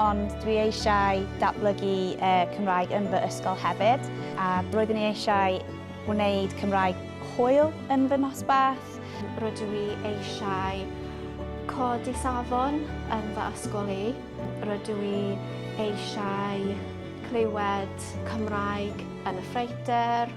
ond dwi eisiau datblygu Cymraeg yn fy ysgol hefyd, a roeddwn i eisiau gwneud Cymraeg hwyl yn fy nosbarth. Rydw i eisiau codi safon yn fy ysgol i. Rydw i eisiau clywed Cymraeg yn y ffreutur.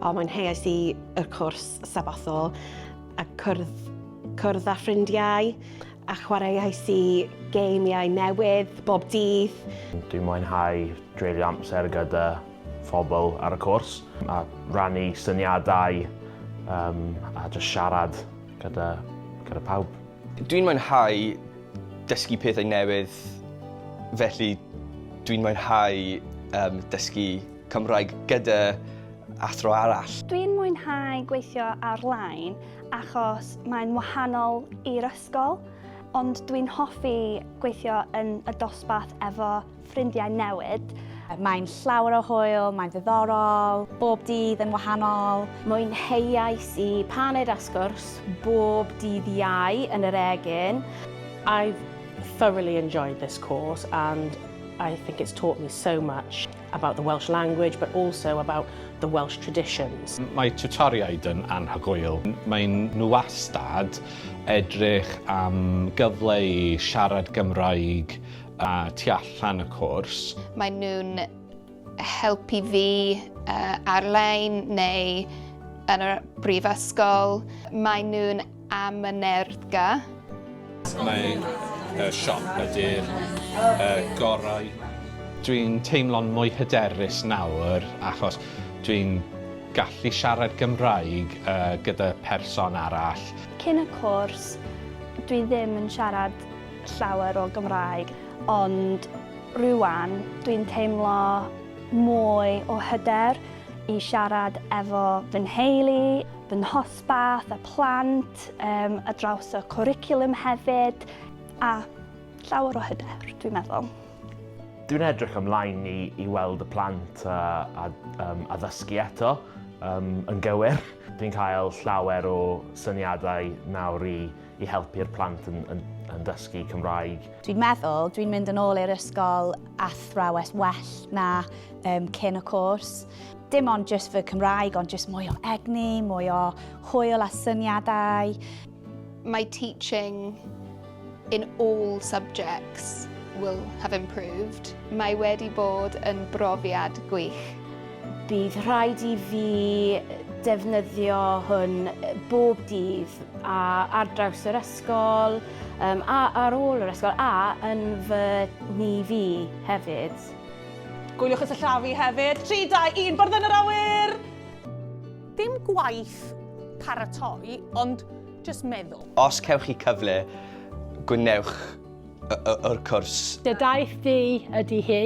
O, mwynheuais i y cwrs sabothol a cwrdd, cwrdd â ffrindiau a chwaraeais i geimiau newydd bob dydd. Dwi'n mwynhau dreulio amser gyda phobl ar y cwrs a rannu syniadau um, a just siarad gyda, gyda pawb. Dwi'n mwynhau dysgu pethau newydd, felly dwi'n mwynhau um, dysgu Cymraeg gyda athro arall. Dwi'n mwynhau gweithio ar-lein achos mae'n wahanol i'r ysgol, ond dwi'n hoffi gweithio yn y dosbarth efo ffrindiau newydd. Mae'n llawer o hwyl, mae'n ddiddorol, bob dydd yn wahanol. Mwynheuais i paned a sgwrs bob dydd Iau yn yr Egin. I've thoroughly enjoyed this course and I think it's taught me so much. about the Welsh language but also about the Welsh traditions. Mae tiwtoriaid yn anhygoel. Maen nhw wastad edrych am gyfle i siarad Gymraeg a tu allan y cwrs. Maen nhw'n helpu fi uh, ar-lein neu yn y brifysgol. Maen nhw'n am y nerthga. Mae y siop ydy'r gorau. Dwi'n teimlo'n mwy hyderus nawr achos dwi'n gallu siarad Gymraeg gyda person arall. Cyn y cwrs, dwi ddim yn siarad llawer o Gymraeg, ond rŵan dwi'n teimlo mwy o hyder i siarad efo fy nheulu, fy Bach a Plant, yym, ar draws y cwricwlwm hefyd, a llawer o hyder, dwi'n meddwl. Dwi'n edrych ymlaen i, i weld y plant a, a, um, a ddysgu eto um, yn gywir. Dwi'n cael llawer o syniadau nawr i, i helpu'r plant yn, yn, yn dysgu Cymraeg. Dwi'n meddwl, dwi'n mynd yn ôl i'r ysgol athrawes well na um, cyn y cwrs. Dim ond jyst fy Cymraeg, ond jyst mwy o egni, mwy o hwyl a syniadau. My teaching in all subjects will have improved. Mae wedi bod yn brofiad gwych. Bydd rhaid i fi defnyddio hwn bob dydd a ar draws yr ysgol um, a ar ôl yr ysgol a yn fy ni fi hefyd. Gwyliwch y sillafu hefyd. 3, 2, 1, bwrdd yn yr awyr! Dim gwaith paratoi, ond jyst meddwl. Os cewch chi cyfle, gwnewch yr cwrs. Dy daith di ydy hi,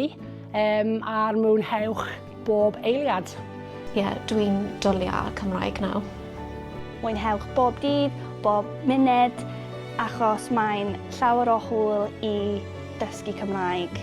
a'r mwynhewch bob eiliad. Ie, dwi'n dwli ar Cymraeg nawr. Mwynhewch bob dydd, bob munud, achos mae'n llawer o hwyl i dysgu Cymraeg.